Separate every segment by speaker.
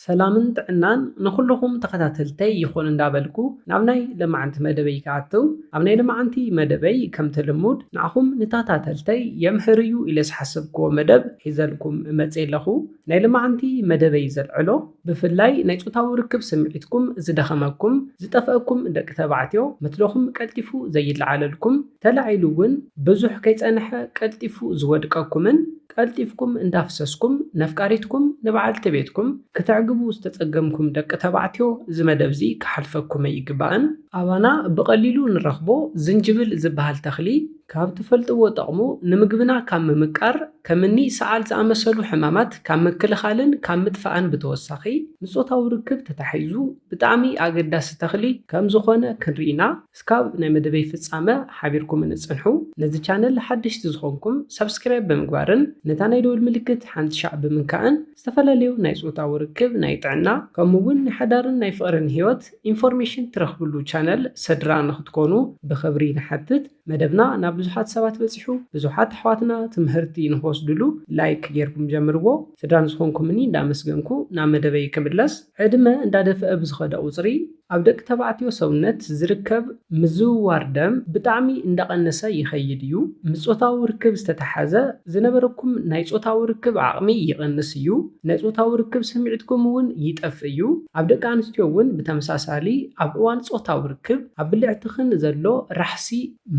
Speaker 1: ሰላምን ጥዕናን ንኹሉኹም ተኸታተልተይ ይኹን እንዳበልኩ ናብ ናይ ለማዓንቲ መደበይ ክኣትው ኣብ ናይ ለማዓንቲ መደበይ ከምቲ ልሙድ ንዓኹም ንታታተልተይ የምህር እዩ ኢለ ዝሓሰብክዎ መደብ ሒዘልኩም መጼ ኣለኹ ናይ ለማዓንቲ መደበይ ዘልዕሎ ብፍላይ ናይ ጾታዊ ርክብ ስምዒትኩም ዝደኸመኩም ዝጠፈእኩም ደቂ ተባዕትዮ መትሎኹም ቀልጢፉ ዘይለዓለልኩም ተላዒሉ ውን ብዙሕ ከይጸነሐ ቀልጢፉ ዝወድቀኩምን ቀልጢፍኩም እንዳፍሰስኩም ነፍቃሪትኩም ንበዓልቲ ቤትኩም ክተዕግቡ ዝተጸገምኩም ደቂ ተባዕትዮ እዚ መደብዚ ክሓልፈኩም ኣይግባእን። ኣባና ብቐሊሉ ንረኽቦ ዝንጅብል ዝበሃል ተኽሊ ካብ ትፈልጥዎ ጠቕሙ ንምግብና ካብ ምምቃር ከምኒ ሰዓል ዝኣመሰሉ ሕማማት ካብ ምክልኻልን ካብ ምጥፋእን ብተወሳኺ ንጾታዊ ርክብ ተታሒዙ ብጣዕሚ ኣገዳሲ ተኽሊ ከምዝኾነ ክንሪኢና እስካብ ናይ መደበይ ፍጻመ ሓቢርኩምኒ ጽንሑ። ነዚ ቻነል ሓደሽቲ ዝኾንኩም ሳብስክራይብ ብምግባርን ነታ ናይ ደወል ምልክት ሓንቲ ሻዕ ብምንካእን ዝተፈላለዩ ናይ ጾታዊ ርክብ፣ ናይ ጥዕና ከምኡ ውን ናይ ሓዳርን ናይ ፍቕርን ህይወት ኢንፎርሜሽን ትረኽብሉ ቻነል ሰድራ ንኽትኮኑ ብኽብሪ ንሓትት። መደብና ናብ ብዙሓት ሰባት በጺሑ ብዙሓት ኣሕዋትና ትምህርቲ ንኽወስድሉ ላይክ ጌርኩም ጀምርዎ። ስድራ ንዝኾንኩምኒ እንዳመስገንኩ ናብ መደበይ ክምለስ። ዕድመ እንዳደፍኣ ብዝኸደ ቁፅሪ ኣብ ደቂ ተባዕትዮ ሰውነት ዝርከብ ምዝውዋር ደም ብጣዕሚ እንዳቐነሰ ይኸይድ እዩ። ምስ ፆታዊ ርክብ ዝተተሓዘ ዝነበረኩም ናይ ፆታዊ ርክብ ዓቕሚ ይቕንስ እዩ። ናይ ፆታዊ ርክብ ስምዒትኩም እውን ይጠፍእ እዩ። ኣብ ደቂ ኣንስትዮ እውን ብተመሳሳሊ ኣብ እዋን ፆታዊ ርክብ ኣብ ብልዕትኽን ዘሎ ራሕሲ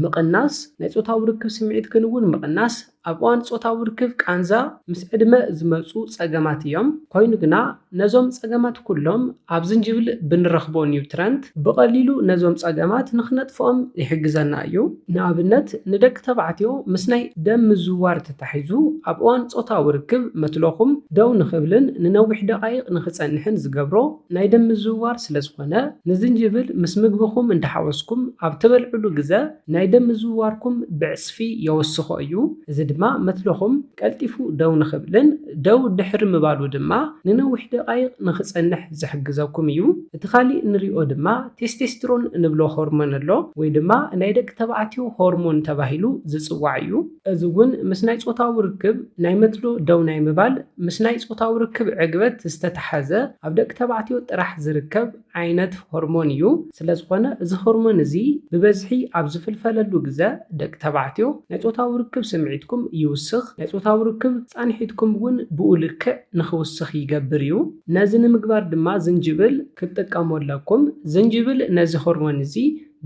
Speaker 1: ምቕናስ ናይ ፆታዊ ርክብ ስምዒትክን እውን ምቕናስ ኣብ እዋን ጾታዊ ርክብ ቃንዛ ምስ ዕድመ ዝመጹ ጸገማት እዮም፣ ኮይኑ ግና ነዞም ጸገማት ኩሎም ኣብ ዝንጅብል ብንረኽቦ ኒውትረንት ብቐሊሉ ነዞም ጸገማት ንኽነጥፍኦም ይሕግዘና እዩ። ንኣብነት ንደቂ ተባዕትዮ ምስ ናይ ደም ምዝውዋር ተታሒዙ ኣብ እዋን ጾታዊ ርክብ መትሎኹም ደው ንኽብልን ንነዊሕ ደቓይቕ ንኽጸንሕን ዝገብሮ ናይ ደም ምዝውዋር ስለዝኾነ ንዝንጅብል ምስ ምግብኹም እንዳሓወስኩም ኣብ ትበልዕሉ ግዘ ናይ ደም ምዝውዋርኩም ብዕጽፊ የወስኾ እዩ፣ እዚ ድማ መትሎኹም ቀልጢፉ ደው ንኽብልን ደው ድሕሪ ምባሉ ድማ ንነዊሕ ደቓይቕ ንኽጸንሕ ዝሕግዘኩም እዩ። እቲ ካልእ እንሪኦ ድማ ቴስቴስትሮን እንብሎ ሆርሞን ኣሎ፣ ወይ ድማ ናይ ደቂ ተባዕትዮ ሆርሞን ተባሂሉ ዝጽዋዕ እዩ። እዚ እውን ምስ ናይ ጾታዊ ርክብ ናይ መትሎ ደው ናይ ምባል ምስ ናይ ጾታዊ ርክብ ዕግበት ዝተታሓዘ ኣብ ደቂ ተባዕትዮ ጥራሕ ዝርከብ ዓይነት ሆርሞን እዩ። ስለዝኾነ እዚ ሆርሞን እዚ ብበዝሒ ኣብ ዝፍልፈለሉ ግዘ ደቂ ተባዕትዮ ናይ ፆታዊ ርክብ ስምዒትኩም ይውስኽ፣ ናይ ፆታዊ ርክብ ፃንሒትኩም እውን ብኡ ልክዕ ንኽውስኽ ይገብር እዩ። ነዚ ንምግባር ድማ ዝንጅብል ክትጥቀሙ ኣለኩም። ዝንጅብል ነዚ ሆርሞን እዚ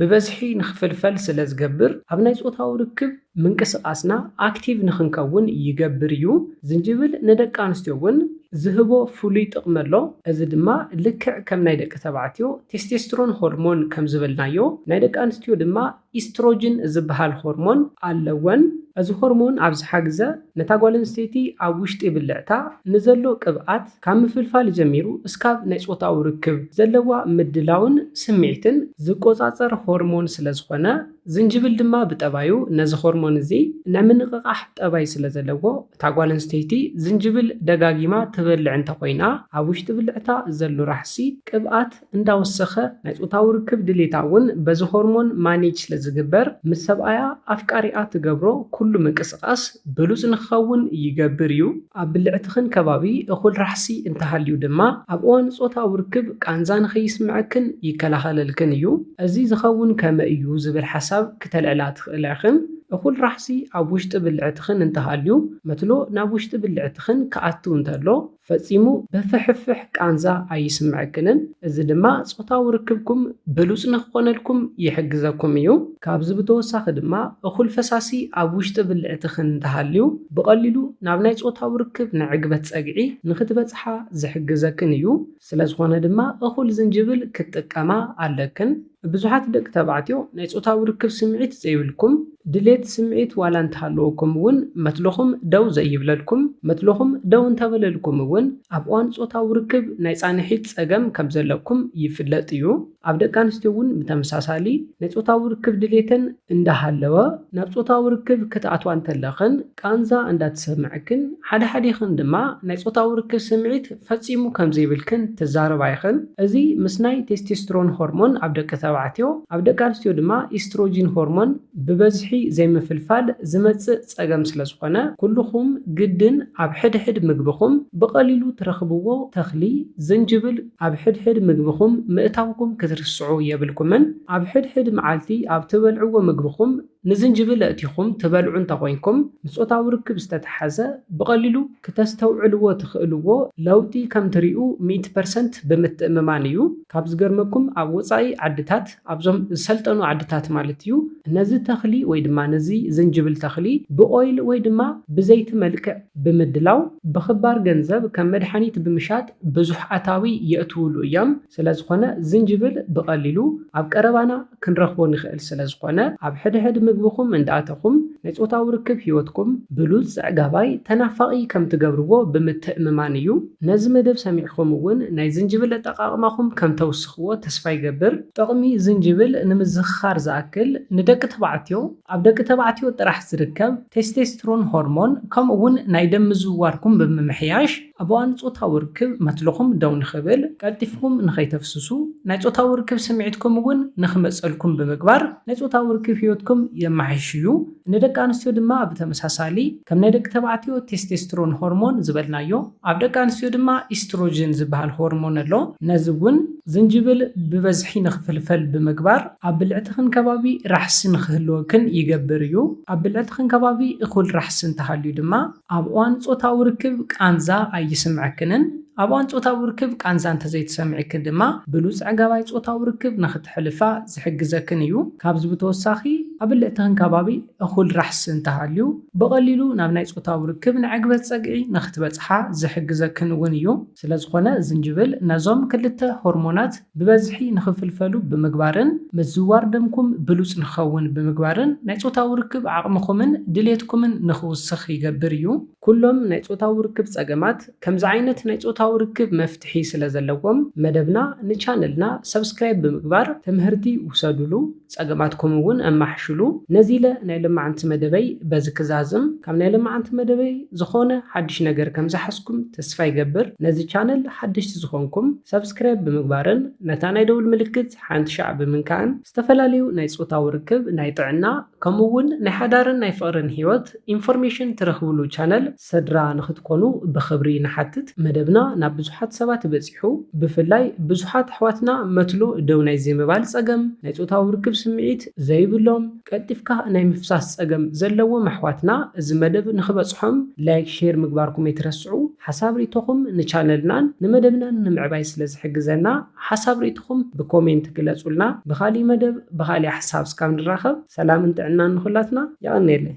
Speaker 1: ብበዝሒ ንክፍልፈል ስለ ዝገብር ኣብ ናይ ጾታዊ ርክብ ምንቅስቃስና ኣክቲቭ ንክንከውን ይገብር እዩ። ዝንጅብል ንደቂ ኣንስትዮ እውን ዝህቦ ፍሉይ ጥቅሚ ኣሎ። እዚ ድማ ልክዕ ከም ናይ ደቂ ተባዕትዮ ቴስቴስትሮን ሆርሞን ከም ዝበልናዮ ናይ ደቂ ኣንስትዮ ድማ ኢስትሮጅን ዝበሃል ሆርሞን ኣለወን። እዚ ሆርሞን ኣብ ዝሓ ግዘ ነታ ጓል ኣንስተይቲ ኣብ ውሽጢ ብልዕታ ንዘሎ ቅብኣት፣ ካብ ምፍልፋል ጀሚሩ እስካብ ናይ ፆታዊ ርክብ ዘለዋ ምድላውን ስምዒትን ዝቆፃፀር ሆርሞን ስለዝኾነ ዝንጅብል ድማ ብጠባዩ ነዚ ሆርሞን እዚ ናይ ምንቕቓሕ ጠባይ ስለዘለዎ እታ ጓል ኣንስተይቲ ዝንጅብል ደጋጊማ ትበልዕ እንተኾይና ኣብ ውሽጢ ብልዕታ ዘሎ ራሕሲ ቅብኣት እንዳወሰኸ ናይ ጾታዊ ርክብ ድሌታ እውን በዚ ሆርሞን ማኔጅ ስለዝግበር ምስ ሰብኣያ ኣፍቃሪኣ ትገብሮ ኩሉ ምንቅስቓስ ብሉጽ ንክኸውን ይገብር እዩ። ኣብ ብልዕትኽን ከባቢ እኹል ራሕሲ እንተሃልዩ ድማ ኣብ እዋን ጾታዊ ርክብ ቃንዛ ንከይስምዐክን ይከላኸለልክን እዩ። እዚ ዝኸውን ከመይ እዩ ዝብል ሓሳብ ክተልዕላ ትኽእላ ኢኽን። እኹል ራሕሲ ኣብ ውሽጢ ብልዕትኽን እንተሃልዩ መትሎ ናብ ውሽጢ ብልዕትኽን ክኣትው እንተሎ፣ ፈጺሙ በፍሕፍሕ ቃንዛ ኣይስምዐክንን፣ እዚ ድማ ጾታዊ ርክብኩም ብሉጽ ንኽኾነልኩም ይሕግዘኩም እዩ። ካብዚ ብተወሳኺ ድማ እኹል ፈሳሲ ኣብ ውሽጢ ብልዕትኽን እንተሃልዩ ብቐሊሉ ናብ ናይ ጾታዊ ርክብ ንዕግበት ጸግዒ ንኽትበጽሓ ዝሕግዘክን እዩ። ስለዝኾነ ድማ እኹል ዝንጅብል ክትጥቀማ ኣለክን። ብዙሓት ደቂ ተባዕትዮ ናይ ጾታዊ ርክብ ስምዒት ዘይብልኩም፣ ድሌት ስምዒት ዋላ እንተሃለወኩም እውን መትሎኹም ደው ዘይብለልኩም፣ መትሎኹም ደው እንተበለልኩም እውን ኣብ እዋን ጾታዊ ርክብ ናይ ጻንሒት ጸገም ከም ዘለኩም ይፍለጥ እዩ። ኣብ ደቂ ኣንስትዮ እውን ብተመሳሳሊ ናይ ጾታዊ ርክብ ድሌተን እንዳሃለወ ናብ ጾታዊ ርክብ ክትኣትዋ እንተለኽን፣ ቃንዛ እንዳተሰምዐክን ሓደ ሓዴኽን ድማ ናይ ጾታዊ ርክብ ስምዒት ፈጺሙ ከም ዘይብልክን ትዛረባ ኢኽን። እዚ ምስ ናይ ቴስቴስትሮን ሆርሞን ኣብ ደቂ ተባዕትዮ፣ ኣብ ደቂ ኣንስትዮ ድማ ኢስትሮጂን ሆርሞን ብበዝሒ ዘይምፍልፋል ዝመጽእ ጸገም ስለ ዝኾነ ኩሉኹም ግድን ኣብ ሕድሕድ ምግብኹም ብቐሊሉ ትረኽብዎ ተኽሊ ዝንጅብል ኣብ ሕድሕድ ምግብኹም ምእታውኩም ክትርስዑ የብልኩምን። ኣብ ሕድሕድ መዓልቲ ኣብ ትበልዕዎ ምግብኹም ንዝንጅብል ኣእቲኹም ትበልዑ እንተኾይንኩም፣ ንጾታዊ ርክብ ዝተተሓዘ ብቐሊሉ ክተስተውዕልዎ ትኽእልዎ ለውጢ ከምትሪኡ ሚእቲ ፐርሰንት ብምትእምማን እዩ። ካብ ዝገርመኩም ኣብ ወጻኢ ዓድታት፣ ኣብዞም ዝሰልጠኑ ዓድታት ማለት እዩ፣ ነዚ ተኽሊ ወይ ድማ ነዚ ዝንጅብል ተኽሊ ብኦይል ወይ ድማ ብዘይቲ መልክዕ ብምድላው ብኽባር ገንዘብ ከም መድሓኒት ብምሻጥ ብዙሕ ኣታዊ የእትውሉ እዮም። ስለዝኾነ ዝንጅብል ብቐሊሉ ኣብ ቀረባና። ክንረኽቦ ንኽእል ስለ ዝኾነ ኣብ ሕድሕድ ምግብኹም እንዳኣተኹም ናይ ጾታዊ ርክብ ሂወትኩም ብሉጽ ጽዕጋባይ ተናፋቂ ከም ትገብርዎ ብምትእምማን እዩ ነዚ መደብ ሰሚዕኹም እውን ናይ ዝንጅብል ኣጠቃቅማኹም ከም ተውስኽዎ ተስፋ ይገብር። ጥቅሚ ዝንጅብል ንምዝኽኻር ዝኣክል ንደቂ ተባዕትዮ ኣብ ደቂ ተባዕትዮ ጥራሕ ዝርከብ ቴስቴስትሮን ሆርሞን ከምኡ እውን ናይ ደም ምዝውዋርኩም ብምምሕያሽ፣ ኣብ እዋን ጾታዊ ርክብ መትልኹም ደው ንኽብል፣ ቀልጢፍኩም ንኸይተፍስሱ፣ ናይ ጾታዊ ርክብ ስምዒትኩም እውን ንኽመጸልኩም ብምግባር ናይ ጾታዊ ርክብ ህይወትኩም የማሕይሽ እዩ። ንደቂ ኣንስትዮ ድማ ብተመሳሳሊ፣ ከም ናይ ደቂ ተባዕትዮ ቴስቴስትሮን ሆርሞን ዝበልናዮ፣ ኣብ ደቂ ኣንስትዮ ድማ ኢስትሮጅን ዝበሃል ሆርሞን ኣሎ። ነዚ እውን ዝንጅብል ብበዝሒ ንኽፍልፈል ብምግባር ኣብ ብልዕትኽን ከባቢ ራሕሲ ንኽህልወክን ይገብር እዩ። ኣብ ብልዕትኽን ከባቢ እኹል ራሕሲ እንተሃልዩ ድማ፣ ኣብ እዋን ጾታዊ ርክብ ቃንዛ ኣይስምዐክንን፣ ኣብ እዋን ጾታዊ ርክብ ቃንዛ እንተዘይተሰሚዕኪ ድማ ብሉጽ ኣዕጋባይ ጾታዊ ርክብ ንኽተሕልፋ ዝሕግዘክን እዩ። ካብዚ ብተወሳኺ ኣብ ብልዕትኽን ከባቢ እኹል ራሕሲ እንተሃልዩ ብቐሊሉ ናብ ናይ ጾታዊ ርክብ ንዕግበት ጸግዒ ንኽትበጽሓ ዝሕግዘክን እውን እዩ። ስለዝኾነ ዝንጅብል ነዞም ክልተ ሆርሞናት ብበዝሒ ንኽፍልፈሉ ብምግባርን ምዝዋር ደምኩም ብሉጽ ንኽኸውን ብምግባርን ናይ ጾታዊ ርክብ ዓቕምኹምን ድሌትኩምን ንኽውስኽ ይገብር እዩ። ኩሎም ናይ ጾታዊ ርክብ ጸገማት ከምዚ ዓይነት ናይ ጾታዊ ርክብ መፍትሒ ስለዘለዎም መደብና ን ቻነልና subscribe ብምግባር ትምህርቲ ውሰዱሉ። ጸገማትኩም እውን ኣማሕሽሉ። ነዚ ኢለ ናይ ለማዓንቲ መደበይ በዚ ክዛዝም። ካብ ናይ ለማዓንቲ መደበይ ዝኾነ ሓድሽ ነገር ከም ዝሓዝኩም ተስፋ ይገብር። ነዚ ቻነል ሓደሽቲ ዝኾንኩም ሳብስክራይብ ብምግባርን ነታ ናይ ደውል ምልክት ሓንቲ ሻዕ ብምንካእን ዝተፈላለዩ ናይ ጾታዊ ርክብ፣ ናይ ጥዕና ከምኡ እውን ናይ ሓዳርን ናይ ፍቕርን ህይወት ኢንፎርሜሽን ትረኽብሉ ቻነል ሰድራ ንክትኮኑ ብክብሪ ንሓትት መደብና ናብ ብዙሓት ሰባት በጺሑ ብፍላይ ብዙሓት ኣሕዋትና መትሎ ደው ናይ ዘይምባል ጸገም ናይ ጾታዊ ርክብ ስምዒት ዘይብሎም ቀልጢፍካ ናይ ምፍሳስ ጸገም ዘለዎም ኣሕዋትና እዚ መደብ ንክበጽሖም ላይክ ሼር ምግባርኩም ኣይትረስዑ ሓሳብ ሪኢቶኹም ንቻነልናን ንመደብናን ንምዕባይ ስለ ዝሕግዘና ሓሳብ ሪኢቶኹም ብኮሜንት ግለጹልና ብካሊእ መደብ ብካሊእ ሓሳብ ስካብ ንራኸብ ሰላምን ጥዕናን ንኩላትና የቀንየለይ።